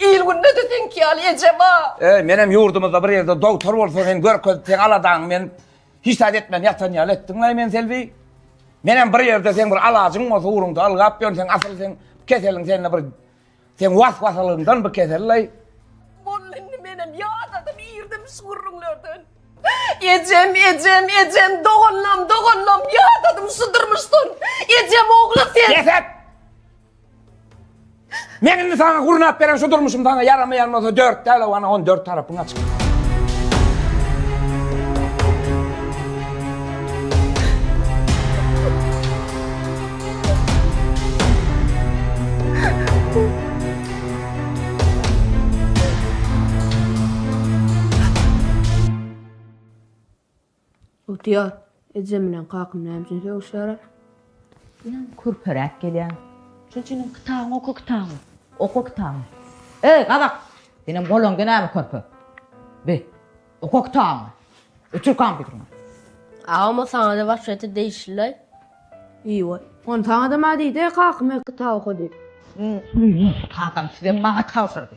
il-günde-de seňki ýaly eje bar. Eý, menem ýurdumyzda bir ýerde dogtor bolsa sen görkezip, seň aladaňy men hiç zat etmän ýatan ýaly etdiň-laý men Selbi. Menem bir ýerde seň bir alajyň bolsa ugruňda ylgap ýörün, seň asyl seň keseliň sende bir Sen was-wasalygyndan bu kesellaý. Boldy indi menem ýadadym irdim şu gürrüňlerden. Ejem, ejem, ejem, doganlam, doganlam, ýadadym şu durmuşdan. Ejem ogly sen. Bes et! Men indi saňa gurnap beren şu durmuşym saňa ýaramaýan bolsa dört däl-ow ana on dört tarapyň açyk. Otyar. Ejem bilen kakam näme üçin sögüşýärler? Ýa körperäk gelýär. Şol üçin hem kitabyňy oka kitabyňy. Oka kitabyňy. Eý, gazak! Senem golaňda näme körpe? Bi. Oka kitabyňy. Öçür kompýuteriňi. Agam o saňada waspete degişlilaý. Eýwa. Ony saňada ma diýdi, kakam öýk kitap oka diýip. Hüýýe, kakam sizem maňa tabşyrdy.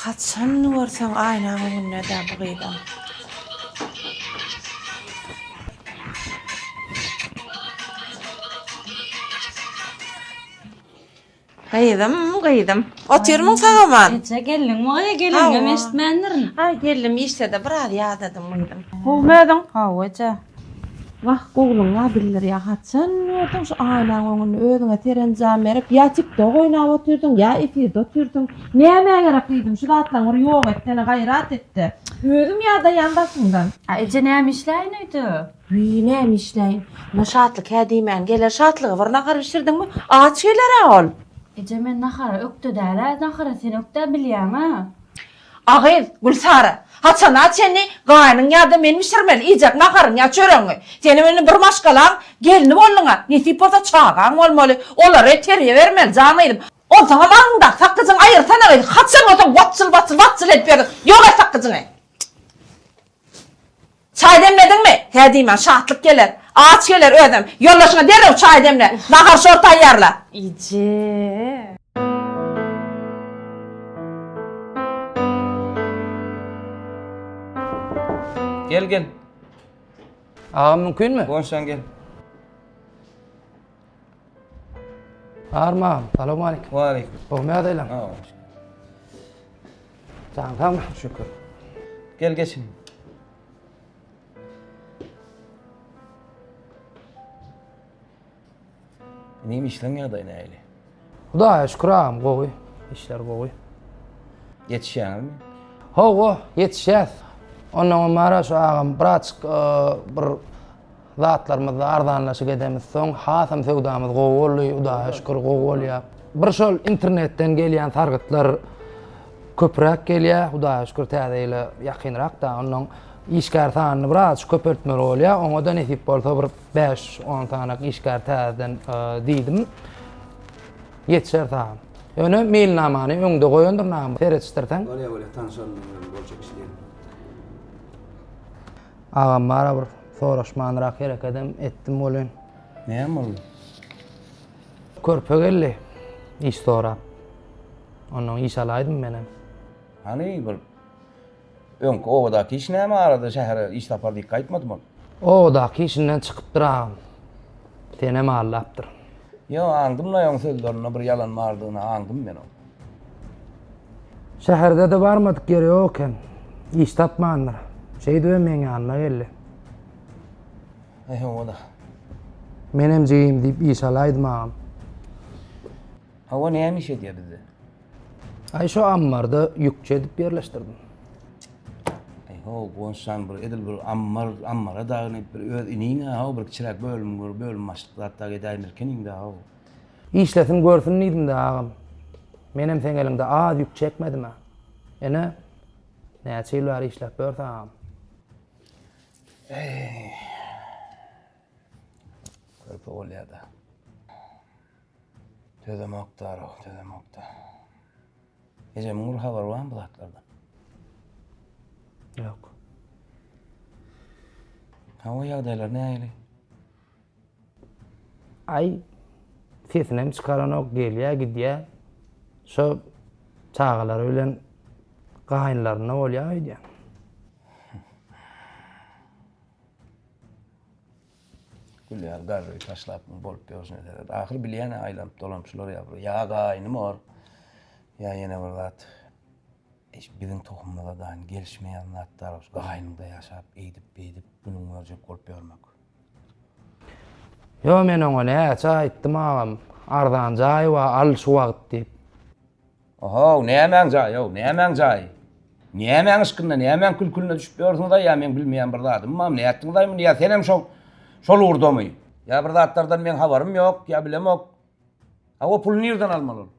Haçan görseň aýnaň öňündedä bu gyzam. Gyzym gyzym. Otyrmyň sagaman. Eje geldiňmi gyz gelinňem eşitmändirin. Aý geldim işdede biraz ýadadym gyzym. Gowmy özüň. Gowy eje. Wah gowluňa bildirýä haçan gördüň şu aýnaň öňünde özüňe serenjam berip ýa tiktok oýnap otyrdyň ýa efirde otyrdyň nämä gerek gyzym şu zatlaň bir ýok etsene gaýrat etde özüm ýadaýan daşyňdan. A eje näme işläýin öýde. Wiý näme işläýin. Muňa Şatlyk hä diýmän geler Şatlyga bir nahar bişirdiňmi? Aç gelerä ol. Eje men nahara ökde dälä nahara sen ökdä bilýäňä. A gyz, Gülsara, haçana çenli gaýynyň ýa-da men bişirmeli iýjek naharyňy ýa çöregiňi? Senem indi bir maşgalaň gelni bolduň-a, nesip bolsa çagaň bolmaly, olary terbiýe bermeli, jan gyzym. Onsoňam aňyňdaky sakgyjyňy aýyrsana gyz, haçan bolsa watjyl-watjyl, watjyl edip ýördüň, ýok et sakgyjyňy! Çaý demlediňmi? Hä diýmän, Şatlyk geler. Aç geler özem. Ýoldaşyňa derrew çaý demle. Nahar-şor taýýarla. Ije. Gel, gel. Agam mümkinmi? Gonşaň gel. Arman, salam aleyküm. Wa aleyküm. Oňa ýadaýlaň. Jaň sagmy? Şükür. Gel geçin. Neymiş işleň ýagdaýy nähili? Hudaýa şükür agam gowy, işler gowy. Ýetişýäňizmi? Hawa, ýetişýäs. Ondan öň bar-a şu agam biraçyk bir zatlarymyzda arzanlaşyk edemiz. Soň hasam söwdamyz gowy boldy, Hudaýa şükür gowy bolýar. Bir şol internetden gelýän sargytlar köpräk gelýär, Hudaýa şükür täze ýyla ýakynrak-da, ondan işgär sanyny biraçyk köpeltmeli bolýar. Oňa-da nesip bolsa bir Bäş-on sanyk işgär täzeden diýdim. Ýetişer saňa. Ýöne meýilnamany öňde goýandyr nagym, seretişdirseň. Bolýa, bolýa, tanşalym bilen bolşa iş diýelim. Agam bara bir soraşmanrak herekedem etdim welin. Näme boldy? Körpe geldi iş sorap. Ondan iş alaýdym menem. Hany bir Öňki obadaky iş näme arada şähere iş sapar diýip gaýtmadym ol. Obadaky işinden çykypdyr agam. Senem aldapdyr. Ýo aňdym-laý oň sözlerinde bir ýalan bardygyny aňdym men oň. Şäherde-de barmadyk ýeri ýok eken. Iş tapmandyr. Şeýdibem meň ýanyma geldi. Eý hawa-da. Menem jigim diýip iş alaýdym agam. Hawa näme iş edýär bizde. Ay şu ammarda yükçe edip yerleştirdim. Ay ho gonşan bir edil bir ammar ammara dagynıp bir öz inine ha bir çirak bölüm bir bölüm başlyk zat da edayim ilkin indi ha. İşlesin görsün diýdim de agam. Men hem sen elinde az yük çekmedim ha. Ene näçe ýyl bäri işläp ýörse agam. Ey. Körpe bolýar da. Tözemokda Araw, tözemokda. Ejemiň bir habary barmy bu zatlardan? Ýok. Hawa, ýagdaýlar nähili? Aý, sesinem çykaranok, gelýär, gidýär. Şo çagalary bilen gaýynlarynda bolýar öýdýän. Gülýär garry taşlap muň bolup ýörşüne seret. Ahyr bilýän-ä aýlanyp dolanyp şular ýa bir ýa gaýnym or, ýa ýene bir zat. Eş biziň tohumymyza daýyn gelişmeýän zatlar ol gaýnymda ýaşap eýdip beýdip günüň görjek bolup ýörmek. Ýo men oňa näçe aýtdym agam arzan jaý bar al şu wagt diýip. Ohow, nämäň jaýy-ow, nämäň jaýy? Nämäň yşkynda, nämäň kül-külüne düşüp ýörsiňiz-aý, ýa meň bilmeýän bir zadymam, nätdiňiz-aý muny, ýa senem şo, şol ugurdamy? Ýa bir zatlardan meň habarym ýok, ýa bilemok. Hawa, puly nirden almaly ol?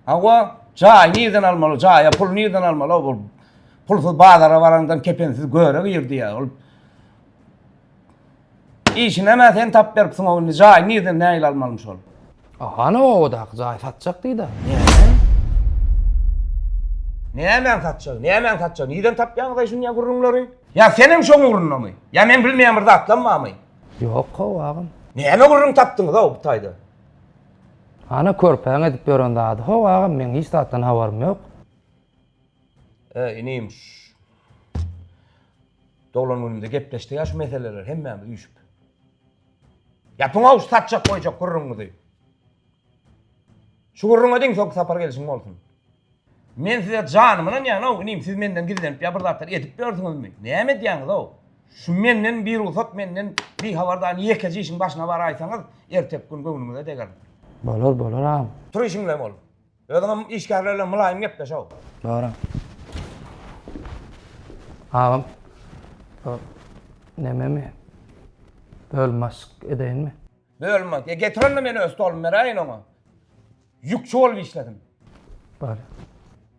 Hawa, jaýy nirden almaly, jaýa puly nirden almaly-ow, ol pulsyz bazara baraňdan kepensiz göre girdi ýa, ol. Işinemä sen tap beripsiň o indi jaýy nirden nägile almalymy şol. A hany obadaky jaýy satjak diýdi. Näme? Nämäň satjagy? Nämäň satjagy? Nirden tapýaňyz-aý şundýa gürrüňleri? Ýa sen hem şoň ugrundamy? Ýa men bilmeýän bir zatlam barmy? Ýok how agam. Näme gürrüň tapdyňyz-ow bu taýda? Hany körpäň edip ýören zady how agam meň hiç zatdan habarym ýok. Ee inim Doglan günümde gepleşdik ya şu meseleler hemmämiz üýşüp. Ýapyň aw satjak goýjak gürrüňiňizi. Şu gürrüňe deň sok sapar gelişiň bolsun. Men size janym ynanýan ow inim siz menden gizlenip ýa bir zatlar edip ýörsüňizmi? Näme edýäňiz ow? Şu menden bir rugsat menden bir habar da ýekeje işiň başyna baraýsaňyz erteki gün göwnüňize degerin. Bolar bolar agam. Tur işiňle bol. Özüňem işgärler bilen mylaýym gepleş how. Dogry. Agam. O nememi? Bölüm başlyk edeýinmi? Bölüm baş. Getir onda men öz stolumy beräýin oňa. Ýükçi bolup işlesin. Bor.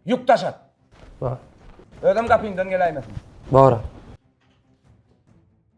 Ýük daşat. Bor. Özem gapyňdan geläýmesin. Bor.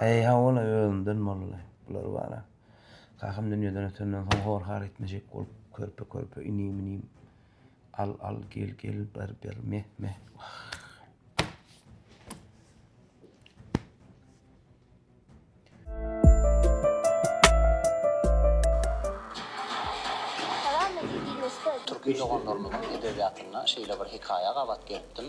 Eý hawa-la özümden bolly bular bar-a. Kakam dünýeden ötenden soň hor-har etmejek bolup körpe-körpe inim-inim, al-al, gel-gel, ber-ber, meh-meh, wah. Türki doganlarymyzyň edebiýatynda şeýle bir hekaýa gabat gelipdim.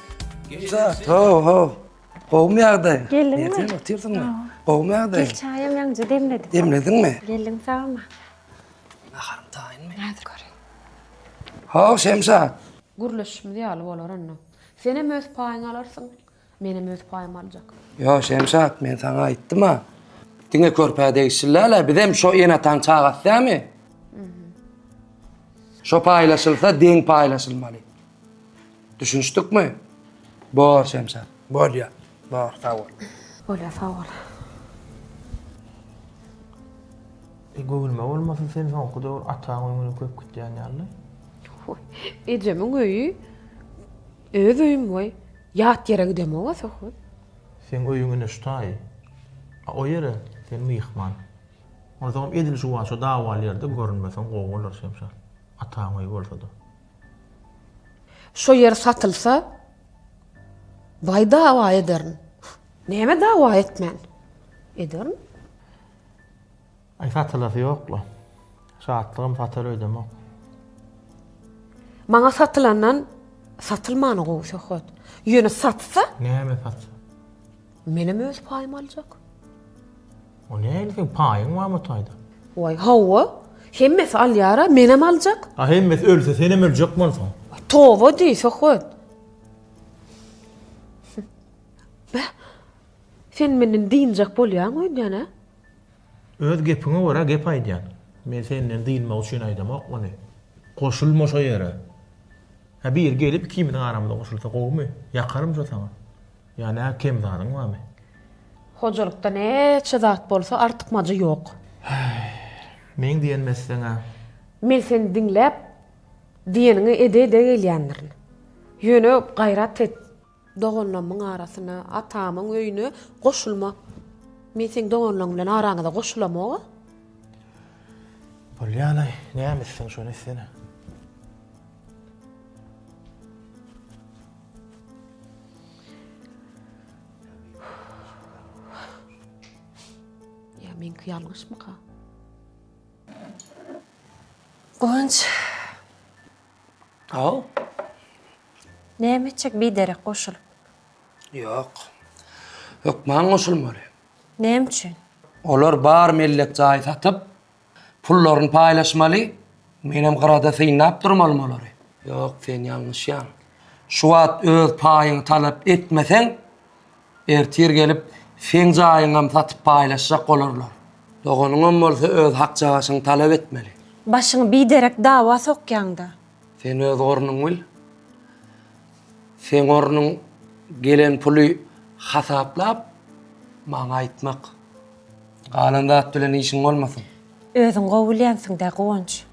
Gülşa, ho, ho. Gowmy ýagdaýyň? Geldiňmi? Nereden otyrsyň? Gowmy ýagdaýyň? Gel çaýam ýaňja demledim. Demlediňmi? Geldim sagama. Naharym taýynmy? Häzir göreýin. Ho, Şemşat. Gürleşişimiz ýaly bolar onda. Senem öz paýyňy alarsyň, menem öz paýymy aljak. Ýo, Şemşat, men saňa aýtdym-a. Diňe körpä degişli däl-ä, bizem şo ene-ataň çagasy dämi? Şo paýlaşylsa, deň paýlaşylmaly. Düşünişdikmi? Bor, Şemşat. Bolýar. Bor, sag bol. Bolýar, sag bol. E, göwnüme bolmasa, sen soňky döwür ataň öýüňe köp gitýän ýaly. Hoý, ejemiň öýi öz öýüm boý. Ýat ýere gidemog-a söhbet. Seň öýüň ine şu taýy. A o ýere sen myhman. Onsoňam edil şuwaşa dawaly ýerde görünmeseň gowy bolar, Şemşat. Ataň öýi bolsa-da. Şo ýer satylsa, baý dawa ederin. Näme dawa etmen? Ederin. Aý satylasy ýok-la. Şatlygym satar öýdemok. Maňa satylandan satylmany gowy söhbet. Ýöne satsa? Näme satsa? Menem öz paýymy aljak. O nähili seň paýyň barmy o taýda? Waý, hawa. Hemmesi alýar-a, menem aljak. A hemmesi ölse, senem öljek bolsaň. Waý, toba diý, söhbet. Beh, sen menden dynjak bolýaň öýdýän-ä? Öz gepiňe görä gep aýdýan. Men senden dynmak üçin aýdamok muny. Goşulma şo ýere. Hä, biri gelip ikimiziň aramyza goşulsa gowumy? Ýakarym şo saňa. Ýa nä kem zadyň barmy? Hojalykda näçe zat bolsa artykmajy ýok. Häý. Meň diýenimi etseň-ä. Men seni diňläp, diýeniňi ede-ede gelýändirin. Ýöne gaýrat et. Doganlarymyň arasyna, atamyň öýüne goşulma. Men seň doganlaryň bilen araňyza goşulamog-a. Bolýa-laý, näme etseň şony etsene. Ýa meňki ýalňyşmyka? Guwanç. Haw. Näme etjek biderek goşulyp? Ýok. Hökman goşulmaly. Näme üçin? Olar bar mellek jaý satyp, Pullaryny paýlaşmaly. Menem gyrada synlap durmalym olary. Ýok, sen ýalňyşýaň. Şu wagt öz paýyňy talap etmeseň, ertir gelip, seň jaýyňam satyp paýlaşjak bolarlar. Doganyňam bolsa öz hakjagaşyňy talap etmeli. Başyňy biderek dawa sokýaň-da. Sen öz ornuňy bil. Seň ornuň gelen puly hasaplap, maňa aýtmak. Galan zat bilen işiň bolmasyn. Özüň gowy bilýänsiň-dä, Guwanç.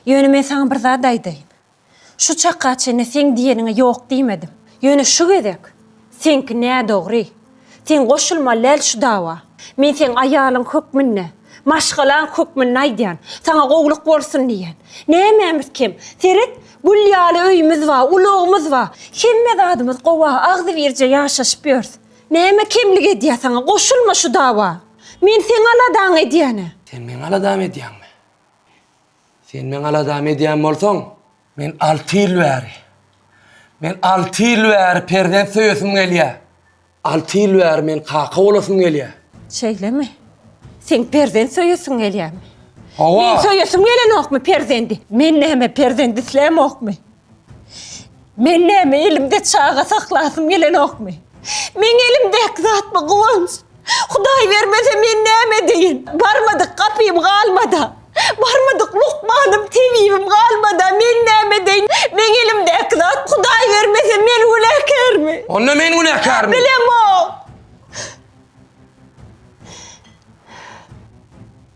Ýöne men saňa bir zat aýdaýyn. Şu çaka çenli seň diýeniňe ýok diýmedim. Ýöne şu gezek seňki nädogry. Sen goşulmaly däl şu dawa. Men seň aýalyň hökmünde, maşgalaň hökmünde aýdýan. Saňa gowulyk bolsun diýýän. Nämämiz kem? Seret, gül ýaly öýümiz bar, ulagymyz bar. Hemme zadymyz gowy-a, agzybirje ýaşaşyp ýörüs. Näme kemlik edýär saňa? Goşulma şu dawa! Men seň aladaňy edýän-ä! Sen meň aladamy edýäňmi? Sen meň aladamy edýän bolsaň, men alty ýyl bäri, men alty ýyl bäri perzent söýesim gelýär. Alty ýyl bäri men kaka bolasym gelýär. Şeýlemi? Seň perzent söýesiň gelýärmi? Hawa! Meň söýesim gelenokmy perzendi? Men näme perzent islämokmy? Men näme elimde çaga saklasym gelenokmy? Meň elimdäki zatmy Guwanç? Hudaý bermese men näme edeýin? Barmadyk gapym galmada. Barmadyk lukmanym, tebibim galmada men näme edeýin? Meň elimdäki zat Hudaý bermese men günäkärmi? Onda men günäkärmi? Bilemok.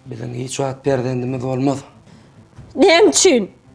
Biziň hiç wagt perzendimiz bolmaz. Näme üçin?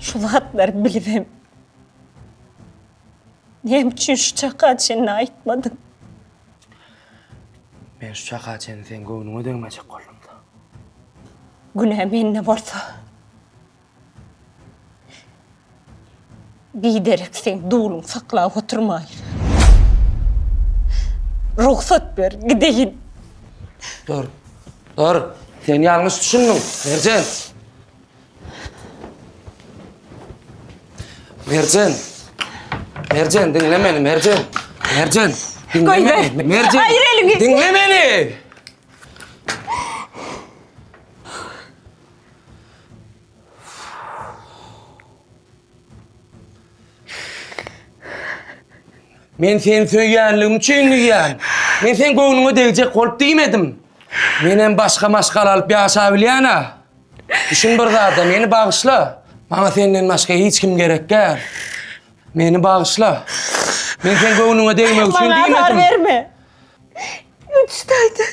Şu zatlary bilibem, näme üçin şu çaka çenli aýtmadyň? Men şu çaka çenli seň göwnüňe degmejek boldum-da. Günä mende bolsa, Biderek seň duluň saklap oturmaýyn. Rugsat ber, gideýin. Dur. Dur. Sen ýalňyş düşündiň, Merjen. Merjen. Merjen, diňle meni, Merjen. Merjen, diňle Goý ber. meni. Merjen. Aýyr eliňi. Diňle meni. Men seni söýýänligim üçin diýýän. Men sen göwnüňe degjek bolup diýmedim. Men hem başga maşgala alyp ýaşap bilýän-ä. Düşün bir zada, meni bagyşla. Maňa senden başga hiç kim gerek däl. Meni bagyşla. Men sen göwnüňe degmek üçin diýmedim. Maňa azar berme. Üç taýdan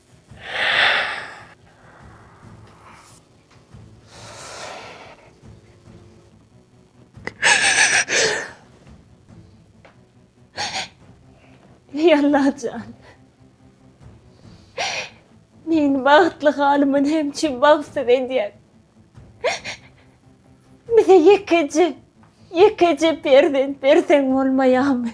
Ey Allajan. Meni bagtly halymy hem çim bagtsyz edýän. Bize ýekeje, ýekeje perzent berseň bolmaýamy?